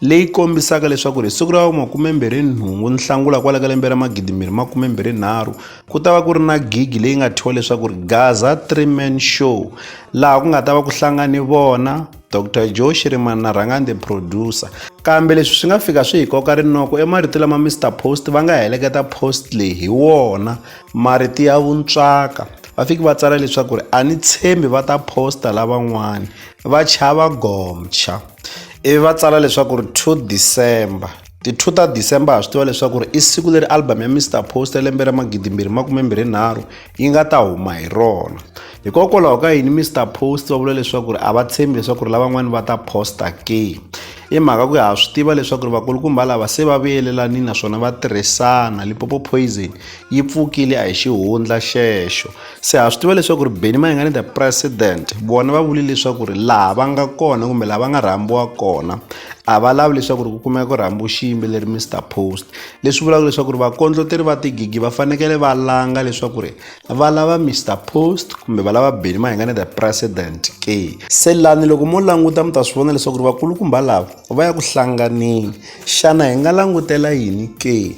leyi kombisaka leswaku ri hi siku ra makumembirhi nhungu nhlangula kwala ka lembe ra magidimbirhi makumembirhi nharhu ku ta va ku ri na gigi leyi nga thyiwa leswaku ri gaza three man show laha ku nga ta va ku hlangani vona dr joe shirimani na rhangani the producer kambe leswi swi nga fika swi hi koka rinoko emarito lama mr post va nga heleketa post leyi hi wona marito ya vuntswaka va fiki va tsala leswaku ri a ni tshembi va ta posta lavan'wani va chava gomcha ivi va tsala leswaku ri two december ti-two ta december ha swi tiva leswaku ri i siku leri album ya mr post ya lembe ra magidimbirhi makumembirhi nharhu yi nga ta huma hi rona hikokwalaho ka yini mr post va vula leswaku ri a va tshembi leswaku ri lavan'wani va ta posta ke i mhaka ku ya ha swi tiva leswaku ri vakulukumba lava se va vuyelelani naswona va tirhisana lipopo poison yi pfukile a hi xihundla xexo se ha swi tiva leswaku ri beni mayingani the president vona va vule leswaku ri laha va nga kona kumbe laha va nga rhambiwa kona a va lavi leswaku ri ku kumeka ku rhambiwa xiyimbeleri mr post leswi vulaka leswaku ri vakondloteri va tigigi va fanekele va langa leswaku ri va lava mr post kumbe va lava beni mayingani the president ke se lani loko mo languta mi ta swi vona leswaku ri vakulukumba lava va ya ku hlanganeni xana hi nga langutela yini ke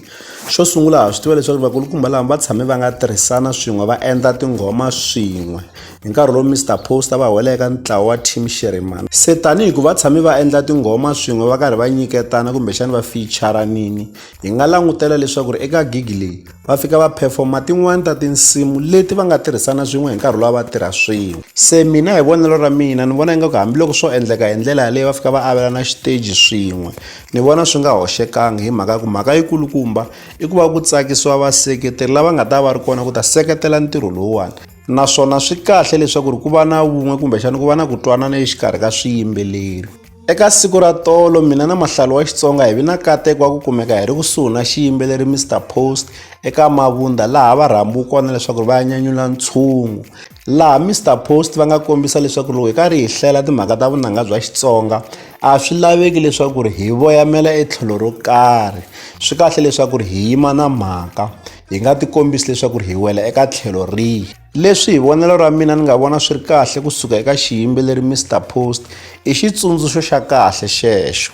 Xo sungula ha swi tiva leswaku vakulukumba lama va tshame va nga tirhisana swin'we va endla tinghoma swin'we hi nkarhi lowu Mister Post va wela eka ntlawa wa Team Shirimani se tanihi ku va tshame va endla tinghoma swin'we va karhi va nyiketana kumbexana va ficharanini hi nga langutela leswaku ri eka gig leyi va fika va performa tin'wani ta tinsimu leti va nga tirhisana swin'we hi nkarhi lowu va tirha swin'we se mina hi vonelo ra mina ni vona ingaku hambiloko swo endleka hi ndlela yaleyo va fika va avelana xiteji swin'we Ni vona swi nga hoxekangi hi mhaka ya ku mhaka yikulukumba i ku va ku tsakisiwa vaseketeri lava nga ta va ri kona ku ta seketela ntirho lowuwani naswona swi kahle leswaku ri ku va na vun'we kumbexana ku va na ku twanana exikarhi ka swiyimbeleri eka siku ra tolo mina na mahlalo wa xitsonga hi vi na kateko wa ku kumeka hi ri kusuhi na xiyimbeleri mr post eka mavunda laha va rhambiwi kona leswaku ri va ya nyanyula ntshungu laha Mister Post va nga kombisa leswaku loko hi karhi hi hlela timhaka ta vunanga bya Xitsonga a swi laveki leswaku ri hi voyamela etlhelo ro karhi swi kahle leswaku ri hi yima na mhaka hi nga ti kombisi leswaku ri hi wela eka tlhelo rihi leswi hi vonelo ra mina ni nga vona swi ri kahle kusuka eka xiyimbeleri Mister Post i xitsundzuxo xa kahle xexo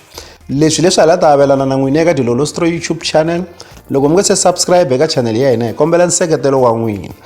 leswi leswi hala ta avelana na n'wini eka dilolostro youtube channel loko mi nga se subscribe eka channel ya hina hi kombela nseketelo wa n'wina